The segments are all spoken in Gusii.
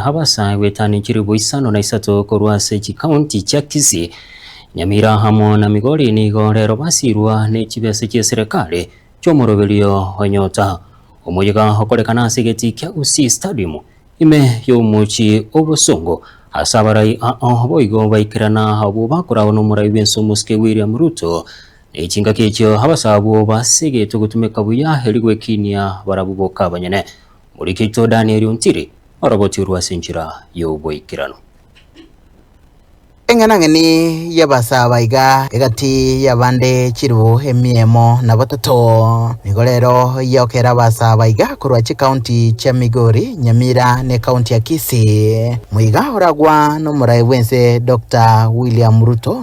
Abasa goetania chilifu isano na isato korwa ase chikaunti chia Kisii, Nyamira amo na Migori nigo rero basiirwa ne chibesa chi'eserekari chi'omoroberio o Nyota, omoyega okorekana ase egetii kia Gusii Stadium ime y'omochie obosongo ase abarai ao boigo baikerana abwo bakoragwa n'omorai bw'ense omosike William Ruto ne chingaki echio abasa abwo basegetwe gotumeka buya erio gwekinia barabwo boka abanyene. Morikerito Daniel Ontiri. Orogochorwe ase enchera y'oboikeranu. Eng'enang'eni y'abasaba iga egati y'abande chilifu emia emo na batato. Nigo rero yokera abasaba iga korwa chikaunti chia Migori, Nyamira na ekaunti ya Kisii. Moiga oragwa n'omorai bw'ense Dokta William Ruto.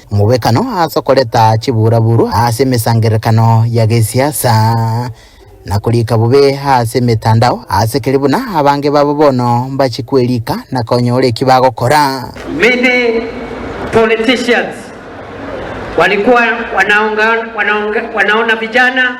Omobwekano ase okoreta chiburaburu ase emesangererekano ya gesiasa, na korika bobe ase emetandao, ase keri buna abange babo bono mbachie kwerika na konyora eki bagokora. Many politicians walikuwa wanaonga, wanaonga, wanaona vijana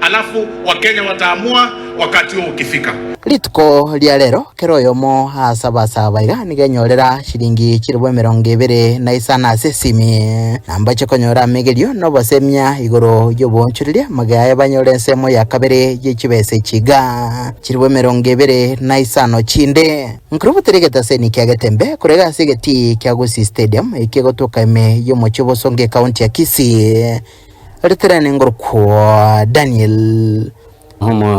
Alafu wakenya wataamua wakati huo ukifika. Rituko ria rero, kera oyomo ase abasaba iga nigo enyorera chiringi chilifu emerongo ebere na isano ase esimi, na mbache konyora amegerio na obosemia igoro y'oboonchoreria magega aye banyore ensemo ya kabere ye chibesa echi iga, chilifu emerongo ebere na isano chinde. Nkirobote rigete ase eniiki ya Getembe, korega ase egetii kia Gusii Stadium, ekegotoka ime y'omochie o Bosongo, ekaunti ya Kisii. Ritere nengorokwa Daniel. Omori.